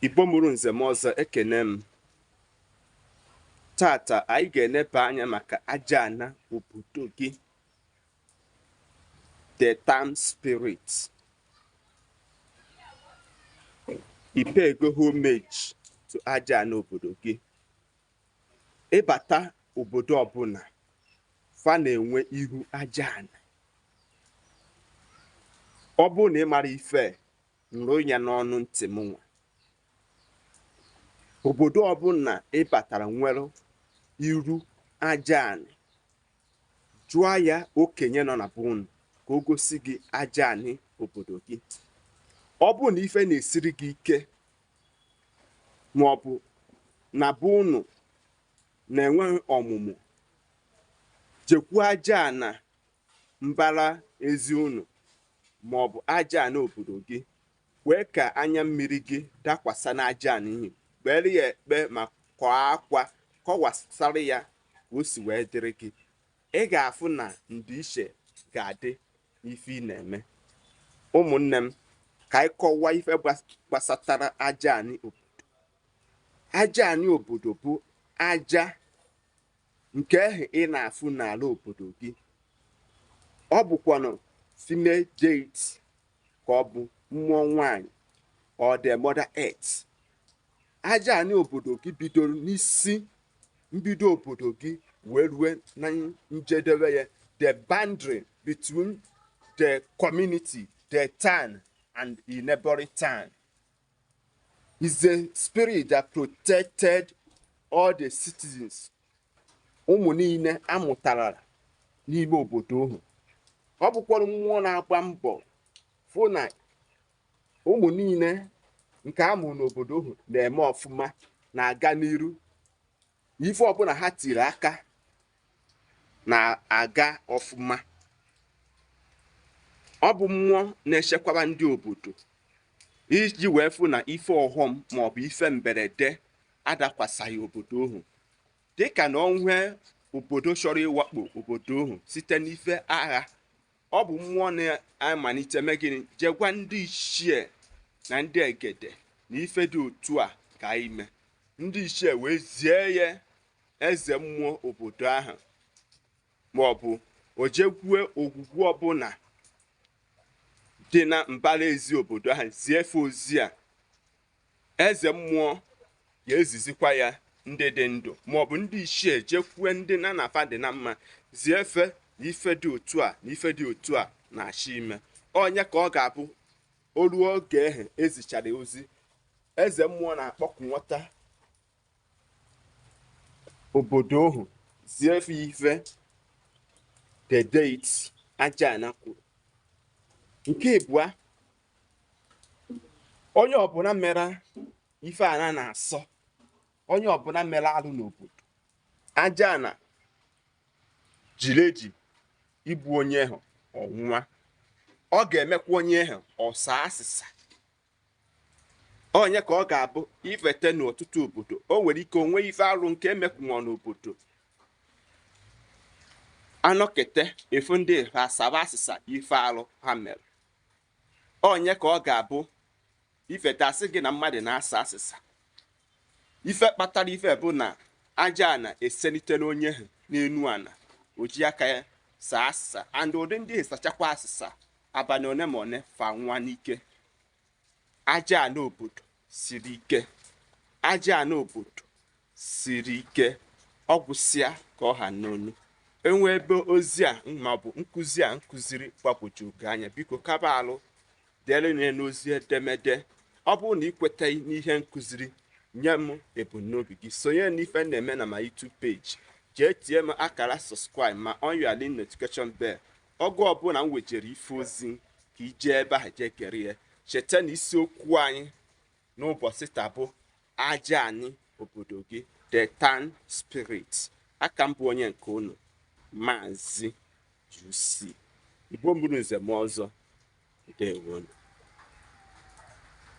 Igbo mụrụ nze mụọ ọzọ ekene m tata anyị ga-eneba anya maka aja ana obodo gị the town spirit ị payego homage to aja ana obodo gị ị bata obodo ọbụla fa na-enwe ihu aja ana ọ bụrụ na ị mara ife nụrụ ya n'ọnụ ntị m nwa obodo ọbụla ị batara nwere iru aja anị jụọ ya okenye nọ na be unu ka o gosi gị aja anị obodo gị ọ bụ na ife na-esiri gị ike ma ọ bụ na be unu na-enweghị ọmụmụ jekwu aja ana mbara ezi unu ma ọ bụ aja anị obodo gị kwee ka anya mmiri gị dakwasa n'aja anị ahụ kpere ya ekpe ma kwaa akwa kọwasara ya ka o si wee dịrị gị ị ga-afụ na ndịiche ga-adị n'ife ị na-eme ụmụnne m ka anyị kọwaa ife gbasatara aja anị obodo aja anị obodo bụ aja nke ahụ ị na-afụ n'ala obodo gị ọ bụkwanụ female deity ka ọ bụ mmụọ nwanyị or the mother earth aja anị obodo gị bidoro n'isi mbido obodo gị wee rue na njedebe ya the boundary between the community the town and the neighboring town is the spirit that protected all the citizens ụmụ niile a mụtara n'ime obodo ahụ ọ bụkwara mmụọ na-agba mbọ fụ na ụmụ niile nke a mụrụ n'obodo ahụ na-eme ọfụma na-aga n'iru na ife ọbụla ha tiri aka na-aga ọfụma ọ bụ mmụọ na-echekwaba ndị obodo iji wee fụ na ife ọghọm maọbụ ife mberede adakwasaghị obodo ahụ dịka na o nwee obodo chọrọ ịwakpo obodo ahụ site n'ife agha ọ bụ mmụọ na-amalite mee gịnị jee gwa ndị ichie na ndị egede na ife dị otu a ka ime ndị ichie wee zie ya eze mmụọ obodo ahụ ma ọ bụ o jekwue ogwugwu ọbụla dị na mbara ezi obodo ahụ zie fa ozi a eze mmụọ ya ezizikwa ya ndị dị ndụ maọbụ ndị ichie jekwue ndị nna nna fa dị na mma zie fa na ife dị otu a na ife dị otu a na-achọ ime onye ka ọ ga-abụ o ruo oge ahụ e zichara ozi eze mmụọ na-akpọku nwata obodo ahụ zie fa ife the deity aja ana kwuru nke ịbụa onye ọbụla mere ife ana na-asọ onye ọbụla mere alụ n'obodo aja ana jiri eji igbu onye ahụ ọnwụnwa ọ ga-emekwa onye ahụ ọ saa asịsa onye ka ọ ga-abụ i fete n'ọtụtụ obodo o nwere ike o nwee ife arụ nke emekwunwa n'obodo a nọkete a fụ ndị asaba asịsa ife arụ ha mere onye ka ọ ga-abụ i fete a sị gị na mmadụ na-asa asịsa ife kpatara ife bụ na aja ana eselite n'onye ahụ n'enu ana o ji aka ya saa asịsa and ụdị ndị a sachakwa asịsa abalị one ma one fa anwụa n'ike aja ana obodo siri ike aja ana obodo siri ike ọ gwụsịa ka ọ ha n'ọnụ e nwee ebe ozi a maọbụ nkụzi a m kụziri gbagwojuo gị anya biko kaba alụ dere nye n'ozi edemede ọ bụrụ na ị kwetaghị n'ihe m kụziri nye m ebumnobi gị sonye n'ife na-eme na my YouTube page jee tie m akara subscribe ma on your link notification bell oge ọbụla m wejere ife ozi ka i jee ebe ahụ jee gere ya cheta na isiokwu anyị n'ụbọchị taa bụ aja anị obodo gị the town spirit aka m bụ onye nke unu maazị UC Igbo mụrụ nze mụọ ọzọ ndewonu